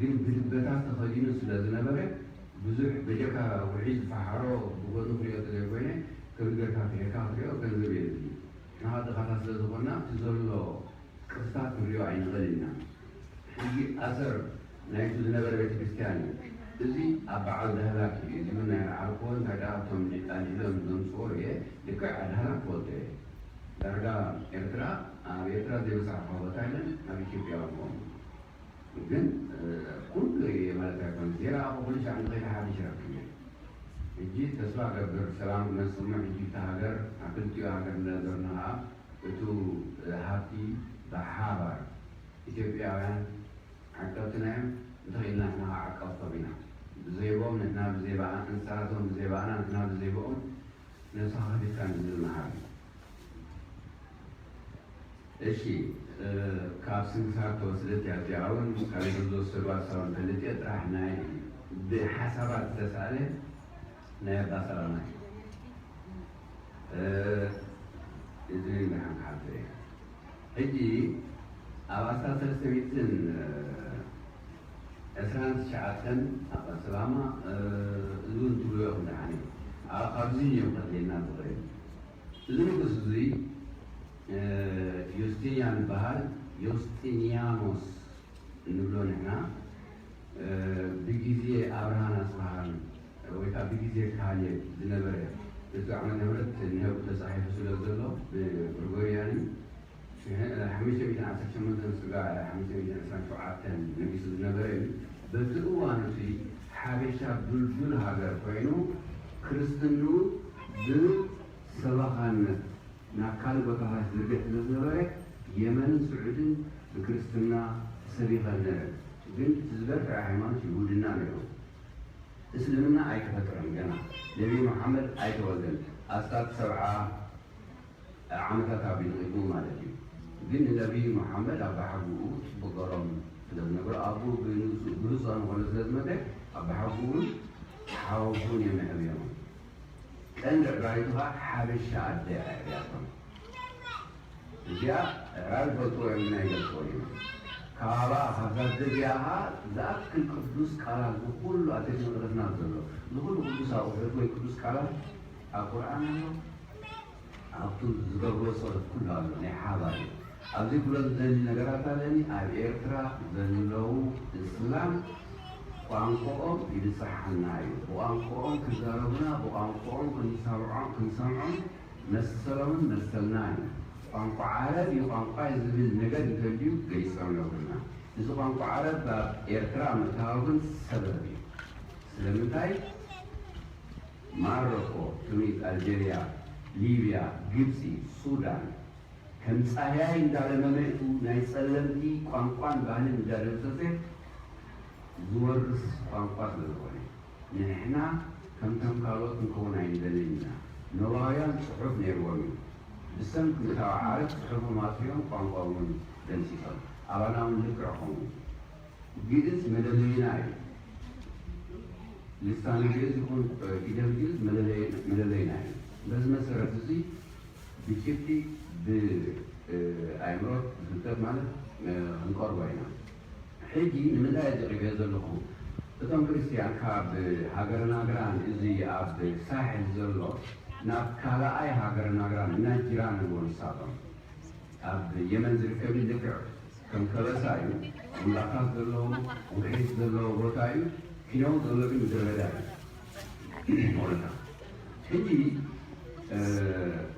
ግን ብድበታት ተኸዲኑ ስለ ዝነበረ ብዙሕ በጀካ ውዑይ ዝፈሓሮ ብጎኒ ክሪኦ ተዘይ ኮይነ ከምዚ ገርካ ፍሒርካ ክትሪኦ ገንዘብ የድሊ ንሕና ድኻታት ስለ ዝኾና እቲ ዘሎ ቅርስታት ክንሪኦ ኣይንኽእልን ኢና ሕጂ ኣሰር ናይቲ ዝነበረ ቤተክርስትያን እዩ እዚ ኣብ በዓል ዳህላክ እዩ እዚ ውን ናይ ኣርዓርክዎ እንታይ ደኣ እቶም ኣልዒሎም ዘምጽኦ እየ ልክዕ ኣድሃላክ ክፈልጦ እየ ዳርጋ ኤርትራ ኣብ ኤርትራ ዘይበጻሕክዋ ቦታ የለን ኣብ ኢትዮጵያ ውን ከምኡ ግን ኩሉ እየ ማለት ኣይኮነን ዜና ኣበ ኩሉ ሻዕ እንተከይተሓፊሽ ይረክብ እየ ህጂ ተስፋ እገብር ሰላም ክመጽእ እሞ ህጂ እታ ሃገር ኣብ ክልቲኡ ሃገር እንደነበርና ከኣ እቱ ሃብቲ ብሓባር ኢትዮጵያውያን ዓቀብትና እዮም እንተኪኢልና ንሕና ከኣ ዓቀብቶም ኢና ብዘይቦም ንሕና ብዘይባኣና ንሳቶም ብዘይባኣና ንሕና ብዘይቦኦም ነብስካ ከፊትካ ንዝብል መሃሪ እሺ ካብ ስንክሳር ተወስደት እያ እዚኣ ውን ካብ ኢዶም ዝወሰዱዋ ሳውን ፈልጥ እየ ጥራሕ ናይ ብሓሳባት ዝተሳእለ ናይ ኣባ ሰላማ እዩ እዚን ደሓን ክሓልፎ እየ ሕጂ ኣብ ኣስታት ሰለስተ ሚእትን ዕስራን ትሽዓተን ኣቐ ስላማ እዝውን ትብልዮ ኢኹም ደሓን እዩ ኣኣ ካብዚ እንዮም ከድልየና ዝኽእል እዚ ንጉስ እዙይ ዮስጢንያን ይበሃል ዮስጢንያኖስ እንብሎ ንሕና ብግዜ ኣብርሃን ኣጽብሃን ወይ ከኣ ብግዜ ካሌብ ዝነበረ እቱ ዓመተ ምህረት እንሀቡ ተጻሒፉ ስለ ዘሎ ብግርጎርያን እዩ ሓሙሽተ ሚእትን ዓሰርተ ሸሞንተን ስጋዕ ሓሙሽተ ሚእትን ዕስራን ሸውዓተን ነጊሱ ዝነበረ እዩ። በቲ እዋን እቱይ ሓበሻ ዱልዱል ሃገር ኮይኑ ክርስትንኡ ብሰበኻነት ናብ ካልእ ቦታታት ይዝርግሕ ስለዝነበረ የመንን ስዑድን ብክርስትና ሰቢኸን ነረን ግን እቲ ዝበርትዐ ሃይማኖት ይሁድና ነሩ እስልምና ኣይተፈጥረን ገና ነቢይ መሓመድ ኣይተወልደን ኣስታት ሰብዓ ዓመታት ኣቢሉ ቅድሚ ማለት እዩ ግን ንነብይ መሓመድ ኣባሓጉኡ ጽቡቅ ገሮም ስለ ዝነብሩ ኣቡኡ ብንእሱ ብሉጽ ኣንኾሎ ስለ ዝመተ ኣባሓጉኡን ሓወቡኡን እዮም የዕብዮሞም ቀንዲ ዕባይቱ ከኣ ሓበሻ ኣደ ኣዕብያቶም እዚኣ ኣዕራብ ይፈልጥዎ እዮም ግን ኣይገልጽዎን እዮም ካባባ ካብዛ ኣደ እዚኣ ከኣ ዝኣክል ቅዱስ ቃላት ዝኹሉ ኣብ ቤት መቅደስና ዘሎ ዝኹሉ ቅዱስ ኣቁሑት ወይ ቅዱስ ቃላት ኣብ ቁርኣን ኣሎ ኣብቱ ዝገብርዎ ጸሎት ኩሉ ኣሎ ናይ ሓባር እዩ ኣብዚ ክብሎ ዝደሊ ነገራት ኣለኒ ኣብ ኤርትራ ዘለው እስላም ቋንቆኦም ይብጸሓና እዩ ብቋንቆኦም ክዛረቡና ብቋንቆኦም ክንሰምዖም መሰሎምን መሰልናን እዩ ቋንቋ ዓረብ እዩ ቋንቋይ ዝብል ነገር እንተልዩ ገሊጾም ነግሩና እዚ ቋንቋ ዓረብ ኣብ ኤርትራ ምእታዉ ግን ሰበብ እዩ ስለምንታይ ማረኮ፣ ቱኒዝ፣ ኣልጀርያ፣ ሊብያ፣ ግብጺ፣ ሱዳን ከም ጻህያይ እንዳለመመ'ቱ ናይ ጸለምቲ ቋንቋን ባህልን እንዳደምሰሰ ዝወርስ ቋንቋ ስለ ዝኾነ ንሕና ከምቶም ካልኦት ክንከውን ኣይንደልን ኢና። ኖባውያን ጽሑፍ ነይርዎም እዩ። ብሰም ክልታዊ ዓረብ ጽሑፎም ኣጥፊኦም ቋንቋ ውን ደምሲሶም። ኣባና ውን ልክዕ ከምኡ። ግእዝ መለለይና እዩ። ልሳነ ግእዝ ይኹን ፊደል ግእዝ መለለይና እዩ። በዚ መሰረት እዙይ ብጭብጢ ብኣእምሮት ብፍልጠት ማለት ክንቀርቦ ኢና። ሕጂ ንምንታይ እየ ዝዕገ ዘለኹ እቶም ክርስትያን ካብ ሃገረ ናግራን እዚ ኣብ ሳሕል ዘሎ ናብ ካልኣይ ሃገረ ናግራን እና ጂራን ኣለዎ ንሳቶም ኣብ የመን ዝርከብ እዩ ልክዕ ከም ከበሳ እዩ እምባታት ዘለዎ ውሒጅ ዘለዎ ቦታ እዩ ኪነው ዘሎ ግን ምድረ በዳ እዩ ሞለታ ሕጂ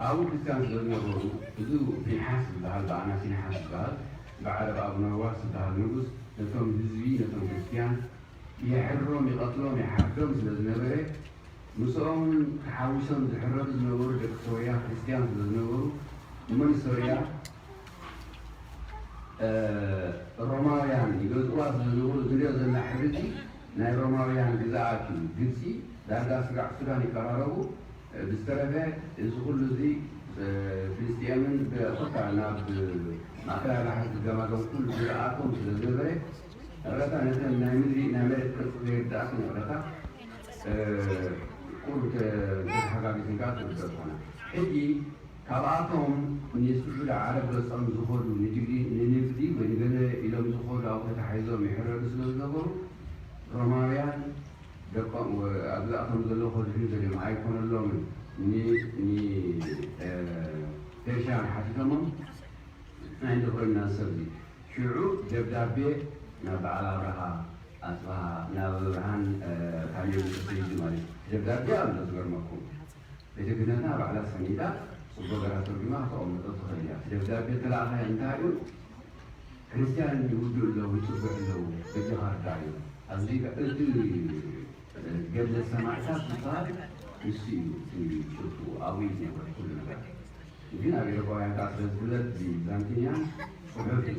ኣብኡ ክርስትያን ስለዝነበሩ እዚ ፊንሓስ ዝበሃል ብኣና ፊንሓስ ዝበሃል ብዓረብ ኣብነዋስ ዝበሃል ንጉስ ነቶም ህዝቢ ነቶም ክርስትያን የሕርሮም ይቐትሎም ይሓርዶም ስለዝነበረ ምስኦም ተሓዊሶም ዝሕረዱ ዝነበሩ ደቂ ሶርያ ክርስትያን ስለዝነበሩ እሞ ንሶርያ ሮማውያን ይገዝእዋ ዝነበሩ ትሪኦ ዘላ ሕብሪ እጂ ናይ ሮማውያን ግዛኣት እዩ ግብጺ ዳርጋ ስጋዕ ሱዳን ይቀራረቡ ብዝተረፈ እዚ ኩሉ እዚ ፍልስጥኤምን ኮታ ናብ ማእከላይ ባሕሪ ዝገማገም ኩሉ ግዛኣቶም ስለ ዝነበረ እቅረታ ነተን ናይ ምድሪ ናይ መሬት ቅርጺ ዘይርዳኣክን እቅረታ ቁሩብ ተተሓጋጊዝንካ ትርደእ ትኮና ሕጂ ካብኣቶም ንስዑዲ ዓረብ ገጾም ዝኸዱ ንንግዲ ወይ ንገለ ኢሎም ዝኸዱ ኣብኡ ተታሒዞም ይሕረዱ ስለ ዝነበሩ ሮማውያን ደቆም ኣብዛ እቶም ዘለዉ ከድሕኑ ደልዮም ኣይኮነሎምን ን ን ፔርሽያን ሓቲቶሞም ናይ ንክርና ሰብዚ ሽዑ ደብዳቤ ናብ በዓል ኣብርሃ ኣጽብሃ ናብ ኣብርሃን ካሌብን ተሰይዱ ማለት እዩ ደብዳቤ ኣሎ ዝገርመኩም። ቤተክህነትና ባዕላ ሰኒዳ ጽቡቕ ገራ ተርጉማ ከተቐምጦ ትኽእል እያ። እቲ ደብዳቤ እተላእኻዮ እንታይ እዩ? ክርስትያን ይውድኡ ኣለዉ፣ ይጽግዑ ኣለዉ፣ በጃኻ እርድኣዮም። ኣዚ እቲ ገድለ ሰማዕታት ዝበሃል ንሱ እዩ እቲ ጭብጡ፣ ኣብኡ እዩ ዝነበረ ኩሉ ነገር። እዚ ናብ ኤውሮጳውያን ከኣ ስለ ዝፍለጥ እዚ ብዛንቲንያን ጽሑፍ እዩ።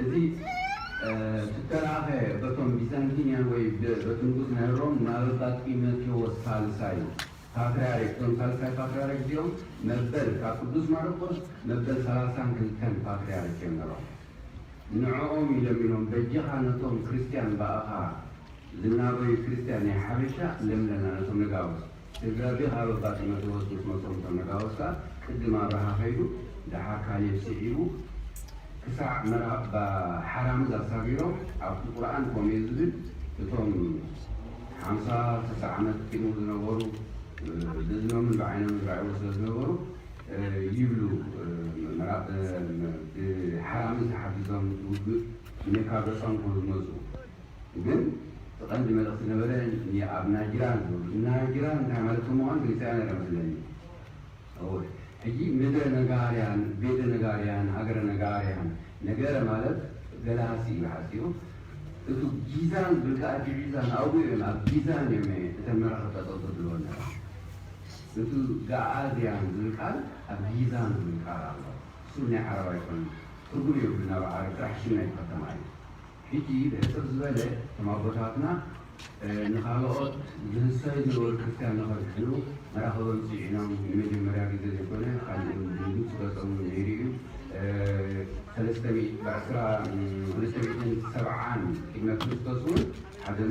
እዚ ትተልኣኸ በቶም ቢዛንቲንያን ወይ በት ንጉስ ነህሮም ናበባ ጢመቴዎስ ሳልሳይ ፓትርያርክ እዞም ሳልሳይ ፓትርያርክ እዚኦም መበል ካብ ቅዱስ ማርቆስ መበል ሰላሳን ክልተን ፓትርያርክ እዮም ነሮም ንዕኦም እዩ ለሚኖም በጃኻ ነቶም ክርስትያን ብኣኻ ዝናበዩ ክርስትያን ናይ ሓበሻ ለምለና ነቶም ነጋውስ ደብዳቤ ካብ ኣባ ጢሞቴዎስ ምስ መጾም እቶም ነጋውስ ከኣ ቅድም ኣብርሃ ከይዱ ደሓር ካሌብ ስዒቡ ክሳዕ መራባ ሓራምዝ ኣሳጊሮም ኣብቲ ቁርኣን ኮምዩ ዝብል እቶም ሓምሳ ስሳ ዓመት ቅድሙ ዝነበሩ ብእዝኖምን ብዓይኖምን ዝረኣይዎ ስለ ዝነበሩ ይብሉ መራብ ብሓራምዝ ተሓጊዞም ውግእ ንካብ ዘጸንብሩ ዝመጹ ግን እቲ ቀንዲ መልእኽቲ ነበረ ኒኣብ ናጅራን ዝብሉ ናጅራን እንታይ ማለት ከም ምዃኑ ገሊጸ እያ ነይረ መስለኒ እወ ሕጂ ምድረ ነጋርያን ቤተ ነጋርያን ሃገረ ነጋርያን ነገረ ማለት ገለ ሃሲ እዩ ሓሲኡ እቱ ጊዛን ዝብል ከኣ ጅዒዛን ኣብኡ እዮም ኣብ ጊዛን እዮም እተን መራኽብ ጠጠው ዘብልወን ነይረን እቱ ጋኣዝያን ዝብል ቃል ኣብ ጊዛን ዝብል ቃል ኣሎ እሱ ናይ ዓረብ ኣይኮነን ትርጉም የብሉን ኣብ ዓረብ ጥራሕ ሽም ናይቲ ከተማ እዩ ሕጂ ብሕጽር ዝበለ እቶም ኣቦታትና ንኻልኦት ዝህሰዩ ዝነበሩ ክርስትያን ንኸድሕኑ መራኽቦም ጽዒኖም ንመጀመርያ ግዜ ዘይኮነ ኣብ ግብጺ ገጾም ነይሩ እዩ ሰለስተ ሚእቲ ብዕስራ ሰለስተ ሚእትን ሰብዓን ቅድመ ክርስቶስ ውን ሓዘኑ